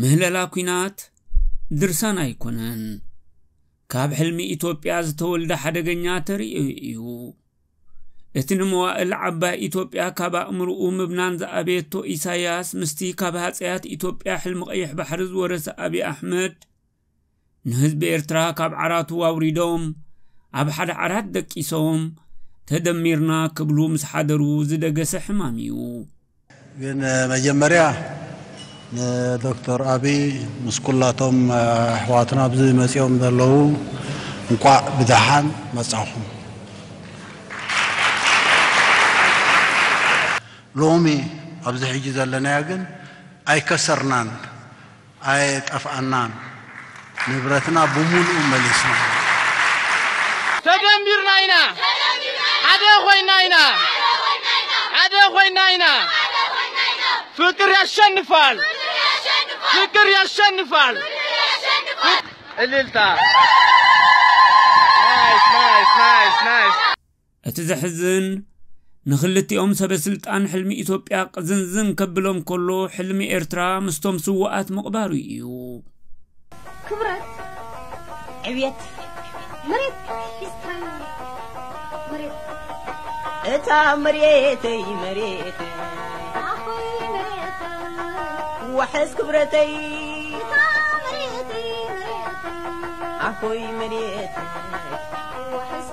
ምህለላ ኩናት ድርሳን ኣይኮነን ካብ ሕልሚ ኢትዮጵያ ዝተወልደ ሓደገኛ ተርእዮ እዩ እቲ ንመዋእል ዓባይ ኢትዮጵያ ካብ ኣእምርኡ ምብናን ዝኣበየቶ ኢሳያስ ምስቲ ካብ ሃፀያት ኢትዮጵያ ሕልሚ ቀይሕ ባሕሪ ዝወረሰ ኣብዪ ኣሕመድ ንህዝቢ ኤርትራ ካብ ዓራቱ ኣውሪዶም ኣብ ሓደ ዓራት ደቂሶም ተደሚርና ክብሉ ምስ ሓደሩ ዝደገሰ ሕማም እዩ። ግን መጀመርያ ንዶክተር ኣብይ ምስ ኩላቶም ኣሕዋትና ኣብዚ መፂኦም ዘለዉ እንቋዕ ብደሓን መፃኹም። ሎሚ ኣብዚ ሕጂ ዘለናዮ ግን ኣይከሰርናን። ኣየጠፍኣናን ንብረትና ብሙሉኡ መሊስና ኢና። ተደሚርና ኢና ሓደ ኮይና ኢና ሓደ ኮይና ኢና ፍቅር ያሸንፋል ፍቅር ያሸንፋል እልልታ ናይስ ናይስ ናይስ ናይስ እቲ ዘሕዝን ንክልቲኦም ሰበስልጣን ሕልሚ ኢትዮጵያ ቅዝንዝን ከብሎም ከሎ ሕልሚ ኤርትራ ምስቶም ስዋኣት ምቕባሩ እዩ። ክብረት ዕብየት መሬት ሒዝካዮ መሬት እታ መሬተይ መሬተይ ኣኾይ መሬት ዋሕስ ክብረተይ እታ መሬተይ መሬት ኣኾይ መሬተይ ዋሕስ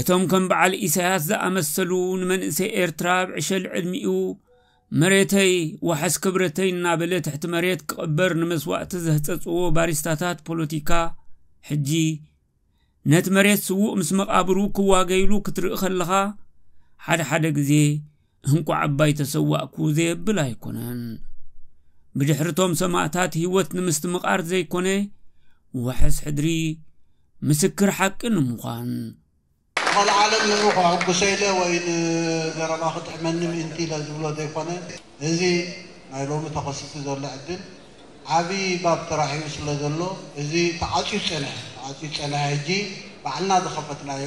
እቶም ከም በዓል ኢሳያስ ዝኣመሰሉ ንመንእሰይ ኤርትራ ኣብ ዕሸል ዕድሚኡ መሬተይ ዋሕስ ክብረተይ እናበለ ትሕቲ መሬት ክቕበር ንመስዋእቲ ዘህጸጽዎ ባሪስታታት ፖለቲካ ሕጂ ነቲ መሬት ስዉእ ምስ መቓብሩ ክዋገይሉ ክትርኢ ከለኻ ሓደ ሓደ ግዜ እንቋዕ ኣባይ ተሰዋእኩ ዘየብል ኣይኮነን። ብድሕርቶም ሰማእታት ህይወት ንምስትምቓር ዘይኮነ ዋሕስ ሕድሪ ምስክር ሓቂ ንምዃን። ንቐልዓ ዓለም ንዑ ከሐጉሰ ኢለ ወይ ንዘረባ ክጥዕመኒ ምእንቲ ኢለ ዝብሎ ዘይኮነ፣ እዚ ናይ ሎሚ ተኸሲቱ ዘሎ ዕድል ዓቢ ባብ ተራሕዩ ስለ ዘሎ፣ እዚ ተዓጽዩ ዝጸንሐ ተዓጽዩ ዝጸንሐ ሕጂ ባዕልና ዝኸፈትናዮ፣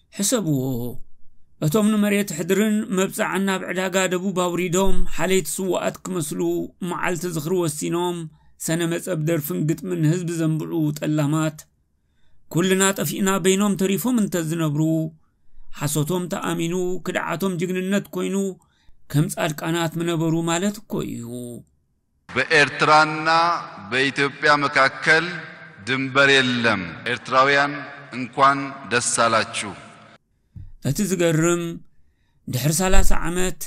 ሕሰብዎ እቶም ንመሬት ሕድርን መብጻዕን ናብ ዕዳጋ ደቡብ ኣውሪዶም ሓለይቲ ስዋኣት ክመስሉ መዓልቲ ዝኽሪ ወሲኖም ሰነ መጸብ ደርፍን ግጥምን ህዝቢ ዘንብዑ ጠላማት ኩልና ጠፊእና በይኖም ተሪፎም እንተዝነብሩ ሓሶቶም ተኣሚኑ ክድዓቶም ጅግንነት ኮይኑ ከም ጻድቃናት ምነበሩ ማለት እኮ እዩ በኤርትራ እና በኢትዮጵያ መካከል ድንበር የለም ኤርትራውያን እንኳን ደስ ኣላችሁ። እቲ ዝገርም ድሕሪ ሰላሳ ዓመት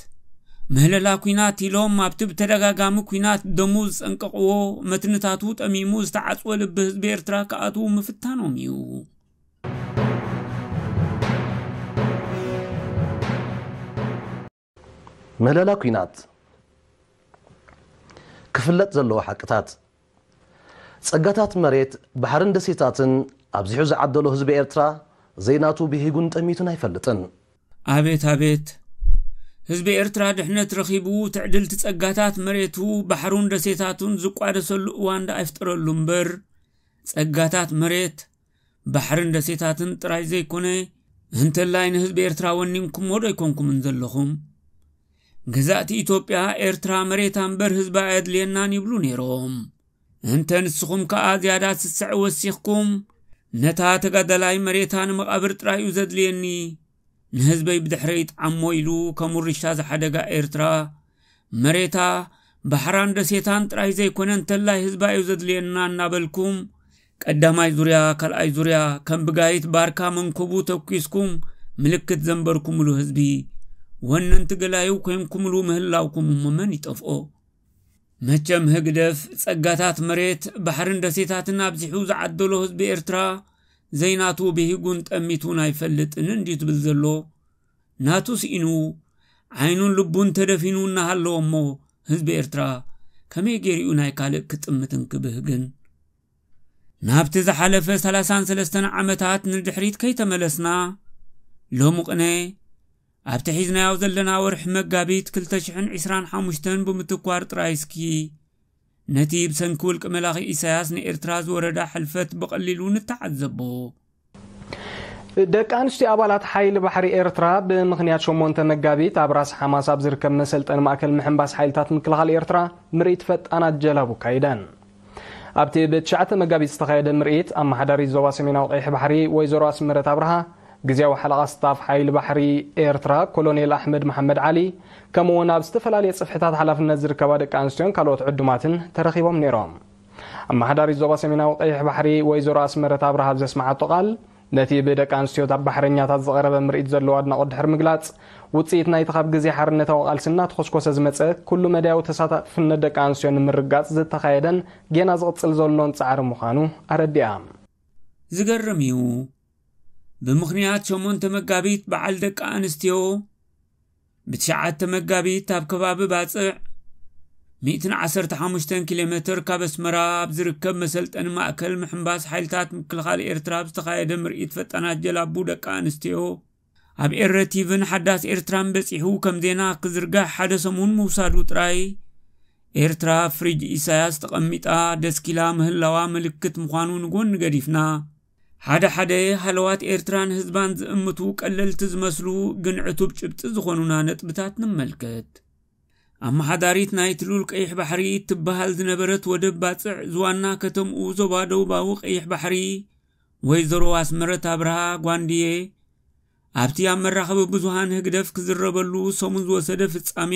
ምህለላ ኩናት ኢሎም ኣብቲ ብተደጋጋሚ ኩናት ደሙ ዝጸንቀቕዎ መትንታቱ ጠሚሙ ዝተዓጽወ ልቢ ህዝቢ ኤርትራ ክኣትዉ ምፍታኖም እዩ። ምህለላ ኲናት፣ ክፍለጥ ዘለዎ ሓቅታት፣ ጸጋታት መሬት፣ ባሕርን ደሴታትን ኣብዚሑ ዝዓደሎ ህዝቢ ኤርትራ ዘይናቱ ብሂጉን ጠሚቱን ኣይፈልጥን። ኣቤት ኣቤት! ህዝቢ ኤርትራ ድሕነት ረኺቡ ትዕድልቲ ጸጋታት መሬቱ፣ ባሕሩን ደሴታቱን ዝቋደሰሉ እዋን ደኣ ይፍጠረሉ እምበር፣ ጸጋታት መሬት፣ ባሕርን ደሴታትን ጥራይ ዘይኮነ እንተላይ ንህዝቢ ኤርትራ ወኒንኩምዎ ዶ ኣይኮንኩምን ዘለኹም ገዛእቲ ኢትዮጵያ ኤርትራ መሬታ እምበር ህዝባ ኣየድልየናን ይብሉ ነይሮም እንተ ንስኹም ከኣ ዝያዳ ስስዐ ወሲኽኩም ነታ ተጋዳላይ መሬታ ንመቓብር ጥራይ እዩ ዘድልየኒ ንህዝበይ ብድሕረይት ዓሞ ኢሉ ከም ውርሻ ዝሓደጋ ኤርትራ መሬታ ባሕራን ደሴታን ጥራይ ዘይኮነ እንተላይ ህዝባ እዩ ዘድልየና እናበልኩም ቀዳማይ ዙርያ ካልኣይ ዙርያ ከም ብጋይት ባርካ መንኮቡ ተኪስኩም ምልክት ዘንበርኩምሉ ህዝቢ ወነንቲ ገላዩ ኮንኩምሉ ምህላውኩም እሞ መን ይጠፍኦ መቸም ህግደፍ ጸጋታት መሬት፣ ባሕርን ደሴታትን ኣብዚሑ ዝዓደሎ ህዝቢ ኤርትራ ዘይናቱ ብሂጉን ጠሚቱን ኣይፈልጥን እንድዩ ዝብል ዘሎ። ናቱ ስኢኑ ዓይኑን ልቡን ተደፊኑ እናሃለወ እሞ ህዝቢ ኤርትራ ከመይ ገይሩ'ዩ ናይ ካልእ ክጥምትን ክብህግን? ናብቲ ዝሓለፈ ሰላሳን ሰለስተን ዓመታት ንድሕሪት ከይተመለስና ሎሚ ቅነ ኣብቲ ሒዝናዮ ዘለና ወርሒ መጋቢት 225 ብምትኳር ጥራይ እስኪ ነቲ ብሰንኪ ውልቂ መላኺ ኢሳያስ ንኤርትራ ዝወረዳ ሕልፈት ብቐሊሉ ንተዓዘቦ ደቂ ኣንስትዮ ኣባላት ሓይሊ ባሕሪ ኤርትራ ብምኽንያት ሸሞንተ መጋቢት ኣብ ራስ ሓማስ ኣብ ዝርከብ መሰልጠኒ ማእከል ምሕንባስ ሓይልታት ምክልኻል ኤርትራ ምርኢት ፈጣናት ጀላቡ ኣካይደን። ኣብቲ ብትሽዓተ መጋቢት ዝተኻየደ ምርኢት ኣመሓዳሪት ዞባ ሰሜናዊ ቀይሕ ባሕሪ ወይዘሮ ኣስመረት ኣብርሃ፣ ግዝያዊ ሓለቓ ስታፍ ሓይሊ ባሕሪ ኤርትራ ኮሎኔል ኣሕመድ መሓመድ ዓሊ ከምኡ'ውን ኣብ ዝተፈላለየ ጽፍሕታት ሓላፍነት ዝርከባ ደቂ ኣንስትዮን ካልኦት ዕዱማትን ተረኺቦም ነይሮም። ኣመሓዳሪት ዞባ ሰሜናዊ ቀይሕ ባሕሪ ወይዘሮ ኣስመረት ኣብርሃ ኣብ ዘስመዓቶ ቃል ነቲ ብደቂ ኣንስትዮታት ባሕረኛታት ዝቐረበ ምርኢት ዘለዎ ኣድናቖት ድሕሪ ምግላጽ ውጽኢት ናይቲ ካብ ግዜ ሓርነታዊ ቃልሲ እናተኾስኮሰ ዝመጸ ኩሉ መዳያዊ ተሳታፍነት ደቂ ኣንስትዮ ንምርግጋጽ ዝተኻየደን ጌና ዝቕጽል ዘሎን ጻዕሪ ምዃኑ ኣረዲኣ። ዝገርም እዩ። ብምኽንያት ሸሞንተ መጋቢት በዓል ደቂ ኣንስትዮ፣ ብትሽዓተ መጋቢት ኣብ ከባቢ ባጽዕ 115 ኪሎ ሜትር ካብ ኣስመራ ኣብ ዝርከብ መሰልጠኒ ማእከል ምሕምባስ ሓይልታት ምክልኻል ኤርትራ ኣብ ዝተኻየደ ምርኢት ፈጣናት ጀላቡ ደቂ ኣንስትዮ ኣብ ኤረ ቲቭን ሓዳስ ኤርትራን በጺሑ ከም ዜና ክዝርጋሕ ሓደ ሰሙን ምውሳዱ ጥራይ ኤርትራ ፍሪጅ ኢሳያስ ተቐሚጣ ደስኪላ ምህላዋ ምልክት ምዃኑ ንጎኒ ገዲፍና ሓደ ሓደ ሃለዋት ኤርትራን ህዝባን ዝእምቱ ቀለልቲ ዝመስሉ ግን ዕቱብ ጭብጢ ዝኾኑና ነጥብታት ንመልከት። ኣመሓዳሪት ናይ ትሉል ቀይሕ ባሕሪ ትበሃል ዝነበረት ወደብ ባጽዕ ዝዋና ከተምኡ ዞባ ደቡባዊ ቀይሕ ባሕሪ ወይዘሮ ኣስመረት ኣብርሃ ጓንድየ ኣብቲ ኣብ መራኸቢ ብዙሃን ህግደፍ ክዝረበሉ ሰሙን ዝወሰደ ፍጻሜ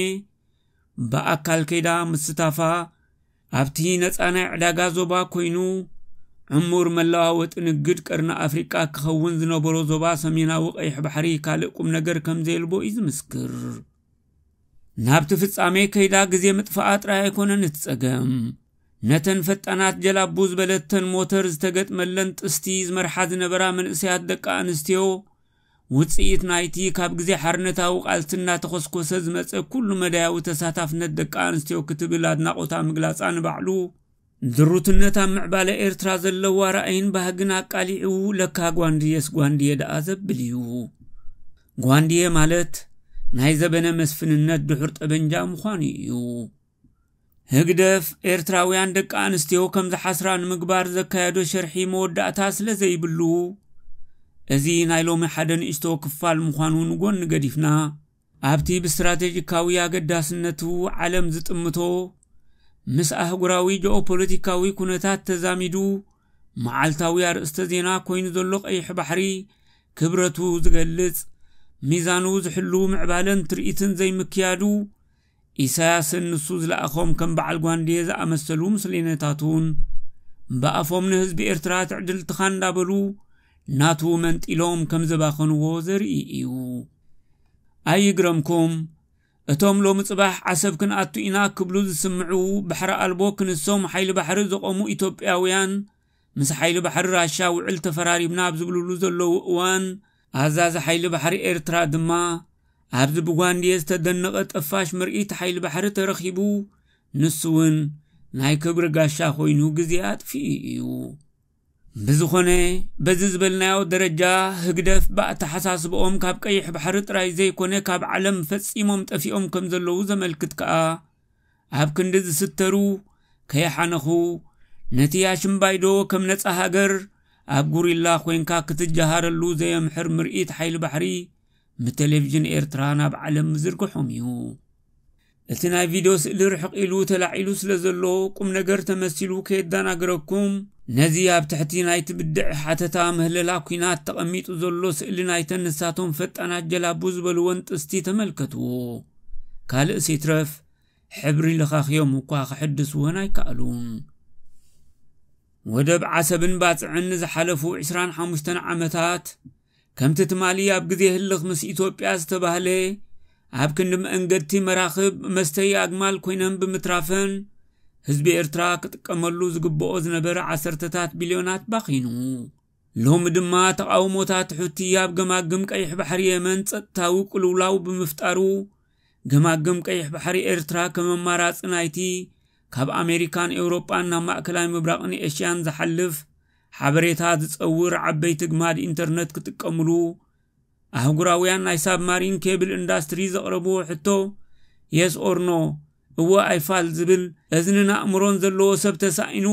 ብኣካል ከይዳ ምስታፋ ኣብቲ ነፃ ናይ ዕዳጋ ዞባ ኮይኑ ዕሙር መለዋወጢ ንግድ ቀርኒ ኣፍሪቃ ክኸውን ዝነበሮ ዞባ ሰሜናዊ ቀይሕ ባሕሪ ካልእ ቁም ነገር ከም ዘየልቦ እዩ ዝምስክር ናብቲ ፍጻሜ ከይዳ ግዜ ምጥፋኣ ጥራይ ኣይኮነን እቲ ጸገም ነተን ፈጣናት ጀላቡ ዝበለተን ሞተር ዝተገጥመለን ጥስቲ ዝመርሓ ዝነበራ መንእሰያት ደቂ ኣንስትዮ ውጽኢት ናይቲ ካብ ግዜ ሓርነታዊ ቃልሲ እናተኾስኮሰ ዝመጸ ኩሉ መዳያዊ ተሳታፍነት ደቂ ኣንስትዮ ክትብል ኣድናቖታ ምግላጻ ንባዕሉ ድሩትነት ኣብ ምዕባለ ኤርትራ ዘለዋ ራእይን ባህግን ኣቃሊዑ ለካ ጓንድየስ ጓንድየ ደኣ ዘብል እዩ። ጓንድየ ማለት ናይ ዘበነ መስፍንነት ድሑር ጠበንጃ ምዃኑ እዩ። ህግደፍ ኤርትራውያን ደቂ ኣንስትዮ ከም ዝሓስራ ንምግባር ዘካየዶ ሸርሒ መወዳእታ ስለ ዘይብሉ እዚ ናይ ሎሚ ሓደ ንእሽቶ ክፋል ምዃኑ ንጎኒ ገዲፍና ኣብቲ ብስትራቴጂካዊ ኣገዳስነቱ ዓለም ዝጥምቶ ምስ ኣህጉራዊ ጂኦፖለቲካዊ ኩነታት ተዛሚዱ መዓልታዊ ኣርእስተ ዜና ኮይኑ ዘሎ ቀይሕ ባሕሪ ክብረቱ ዝገልጽ ሚዛኑ ዝሕሉ ምዕባለን ትርኢትን ዘይምክያዱ ኢሳያስን ንሱ ዝለኣኾም ከም በዓል ጓንዴ ዝኣመሰሉ ምስሌነታቱን፣ ብኣፎም ንህዝቢ ኤርትራ ትዕድልትኻ እንዳበሉ ናቱ መንጢሎም ከም ዘባኸንዎ ዘርኢ እዩ። ኣይግረምኩም እቶም ሎሚ ጽባሕ ዓሰብ ክንኣቱ ኢና ክብሉ ዝስምዑ ባሕሪ ኣልቦ ክንሶም ሓይሊ ባሕሪ ዘቖሙ ኢትዮጵያውያን ምስ ሓይሊ ባሕሪ ራሻ ውዕል ተፈራሪምና ኣብ ዝብልሉ ዘለዉ እዋን ኣዛዚ ሓይሊ ባሕሪ ኤርትራ ድማ ኣብዚ ብጓንድየ ዝተደነቐ ጠፋሽ ምርኢት ሓይሊ ባሕሪ ተረኺቡ ንሱ እውን ናይ ክብሪ ጋሻ ኮይኑ ግዜ ኣጥፊኡ እዩ። ብዝኾነ በዚ ዝበልናዮ ደረጃ ህግደፍ ብኣተሓሳስብኦም ካብ ቀይሕ ባሕሪ ጥራይ ዘይኮነ ካብ ዓለም ፈጺሞም ጠፊኦም ከም ዘለዉ ዘመልክት ከኣ ኣብ ክንዲ ዝስተሩ ከይሓነኹ ነቲ ኣሽምባይዶ ከም ነፃ ሃገር ኣብ ጉሪላ ኮንካ ክትጀሃረሉ ዘየምሕር ምርኢት ሓይሊ ባሕሪ ብቴሌቭዥን ኤርትራ ናብ ዓለም ምዝርግሖም እዩ እቲ ናይ ቪድዮ ስእሊ ርሕቕ ኢሉ ተላዒሉ ስለ ዘሎ ቁም ነገር ተመሲሉ ከየደናግረኩም ነዚ ኣብ ትሕቲ ናይቲ ብድዕ ሓተታ ምህለላ ኩናት ተቐሚጡ ዘሎ ስእሊ ናይተን ንሳቶም ፈጣናት ጀላቡ ዝበልወን ጥስቲ ተመልከትዎ ካልእስ ይትረፍ ሕብሪ ልኻኽዮም እኳ ክሕድስወን ኣይከኣሉን ወደብ ዓሰብን ባፅዕን ንዝሓለፉ 25 ዓመታት ከምቲ ትማሊ ኣብ ግዜ ህልኽ ምስ ኢትዮጵያ ዝተባህለ ኣብ ክንዲ መንገድቲ መራኽብ መስተይ ኣግማል ኮይነን ብምትራፈን ህዝቢ ኤርትራ ክጥቀመሉ ዝግብኦ ዝነበረ ዓሰርተታት ቢልዮናት ባኺኑ ሎሚ ድማ ተቓውሞታት ሑቲ ኣብ ገማግም ቀይሕ ባሕሪ የመን ጸጥታዊ ቅልውላው ብምፍጣሩ፣ ገማግም ቀይሕ ባሕሪ ኤርትራ ከም ኣማራጺ ናይቲ ካብ ኣሜሪካን ኤውሮጳን ናብ ማእከላይ ምብራቕን ኤሽያን ዝሓልፍ ሓበሬታ ዝጸውር ዓበይቲ ግማድ ኢንተርነት ክጥቀምሉ ኣህጉራውያን ናይ ሳብማሪን ኬብል ኢንዳስትሪ ዘቕረብዎ ሕቶ የስ ኦር ኖ እወ ኣይፋል ዝብል እዝንን ኣእምሮን ዘለዎ ሰብ ተሳኢኑ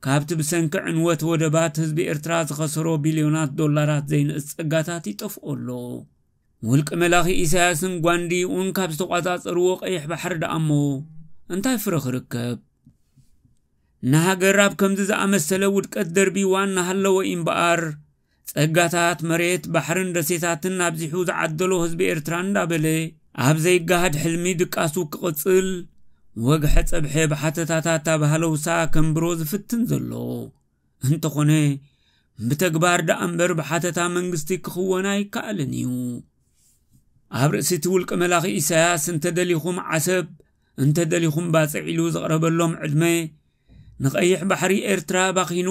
ካብቲ ብሰንኪ ዕንወት ወደባት ህዝቢ ኤርትራ ዝኸሰሮ ቢልዮናት ዶላራት ዘይንእስ ጸጋታት ይጠፍኦ ኣሎ። ውልቂ መላኺ ኢሳያስን ጓንዲኡን ካብ ዝተቋጻጸርዎ ቀይሕ ባሕሪ ደኣ እሞ እንታይ ፍረ ክርከብ? ንሃገር ኣብ ከምዚ ዝኣመሰለ ውድቀት ደርቢዋ እናሃለወ እዩ እምበኣር ጸጋታት መሬት፣ ባሕርን ደሴታትን ኣብዚሑ ዝዓደሎ ህዝቢ ኤርትራ እንዳበለ፣ ኣብ ዘይገሃድ ሕልሚ ድቃሱ ክቕጽል፣ ወግሐ ጸብሐ ብሓተታታት ኣብ ሃለውሳ ከንብሮ ዝፍትን ዘሎ። እንተኾነ ብተግባር ደኣምበር ብሓተታ መንግስቲ ክኽወን ኣይከኣልን እዩ። ኣብ ርእሲቲ ውልቀ መላኺ ኢሳያስ እንተደሊኹም ዓሰብ እንተ ደሊኹም ባጽዕ ኢሉ ዝቕረበሎም ዕድመ ንቐይሕ ባሕሪ ኤርትራ ባኺኑ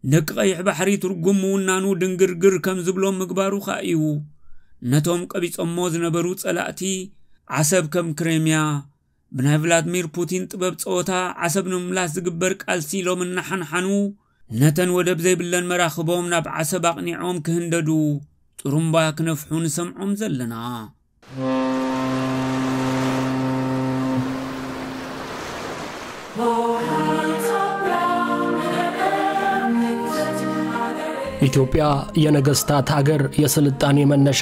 ንደቂ ቀይሕ ባሕሪ ትርጉም ምውናኑ ድንግርግር ከም ዝብሎም ምግባሩ ኸኣ እዩ ነቶም ቀቢጾሞ ዝነበሩ ጸላእቲ ዓሰብ ከም ክሬምያ ብናይ ቭላድሚር ፑቲን ጥበብ ጸወታ ዓሰብ ንምምላስ ዝግበር ቃልሲ ሎም እናሓንሓኑ ነተን ወደብ ዘይብለን መራኽቦም ናብ ዓሰብ ኣቕኒዖም ክህንደዱ ጥሩምባ ክነፍሑ ንሰምዖም ዘለና። ኢትዮጵያ የነገስታት ሀገር የስልጣኔ መነሻ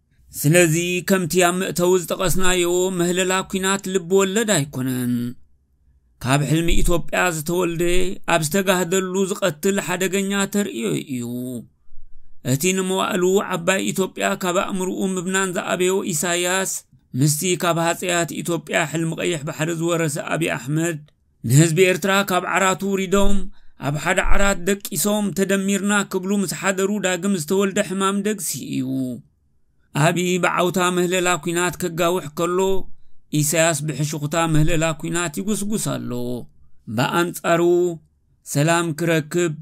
ስለዚ ከምቲ ኣብ መእተዊ ዝጠቐስናዮ ምህለላ ኩናት ልቢ ወለድ ኣይኮነን። ካብ ሕልሚ ኢትዮጵያ ዝተወልደ ኣብ ዝተጋህደሉ ዝቐትል ሓደገኛ ተርእዮ እዩ። እቲ ንመዋእሉ ዓባይ ኢትዮጵያ ካብ ኣእምርኡ ምብናን ዝኣበዮ ኢሳያስ ምስቲ ካብ ሃፀያት ኢትዮጵያ ሕልሚ ቀይሕ ባሕሪ ዝወረሰ ኣብዪ ኣሕመድ ንህዝቢ ኤርትራ ካብ ዓራቱ ውሪዶም ኣብ ሓደ ዓራት ደቂሶም ተደሚርና ክብሉ ምስ ሓደሩ ዳግም ዝተወልደ ሕማም ደግሲ እዩ። ኣብዪ ብዓውታ ምህለላ ኩናት ከጋውሕ ከሎ ኢሳያስ ብሕሽኹታ ምህለላ ኩናት ይጉስጉስ ኣሎ። ብኣንጻሩ ሰላም ክረክብ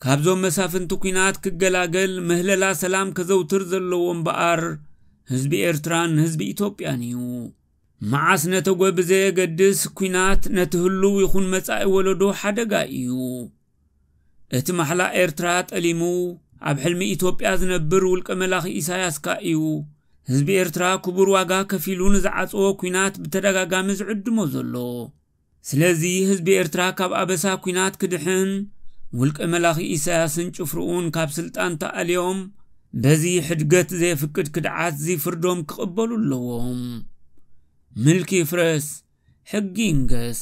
ካብዞም መሳፍንቲ ኩናት ክገላገል ምህለላ ሰላም ከዘውትር ዘለዎ እምበኣር ህዝቢ ኤርትራን ህዝቢ ኢትዮጵያን እዩ መዓስ ነተጐ ብዘየገድስ ኲናት ነቲ ህሉው ይኹን መጻኢ ወለዶ ሓደጋ እዩ። እቲ ማሕላ ኤርትራ ጠሊሙ ኣብ ሕልሚ ኢትዮጵያ ዝነብር ውልቀ መላኺ ኢሳያስካ እዩ ህዝቢ ኤርትራ ክቡር ዋጋ ከፊሉ ንዝዓጽዎ ኲናት ብተደጋጋሚ ዝዕድሞ ዘሎ። ስለዚ ህዝቢ ኤርትራ ካብ ኣበሳ ኩናት ክድሕን ውልቀ መላኺ ኢሳያስን ጭፍርኡን ካብ ስልጣን ተኣልዮም በዚ ሕድገት ዘየፍቅድ ክድዓት ዝይፍርዶም ክቕበሉ ኣለዎም። ምልኪ ይፍረስ፣ ሕጊ ይንገስ።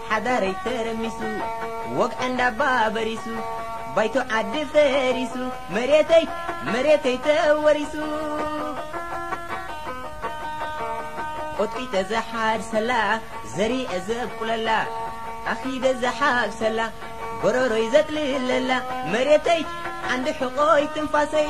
ሓዳረይ ተረሚሱ ወግዐ እንዳባ በሪሱ ባይቶ ዓዲ ፈሪሱ መሬተይ መሬተይ ተወሪሱ ቆጥቂጠ ዘሓርሰላ ዘሪኤ ዘብቁለላ ኣኺደ ዘሓብሰላ ጎረሮይ ዘጥልለላ መሬተይ ዓንዲ ሕቖይ ትንፋሰይ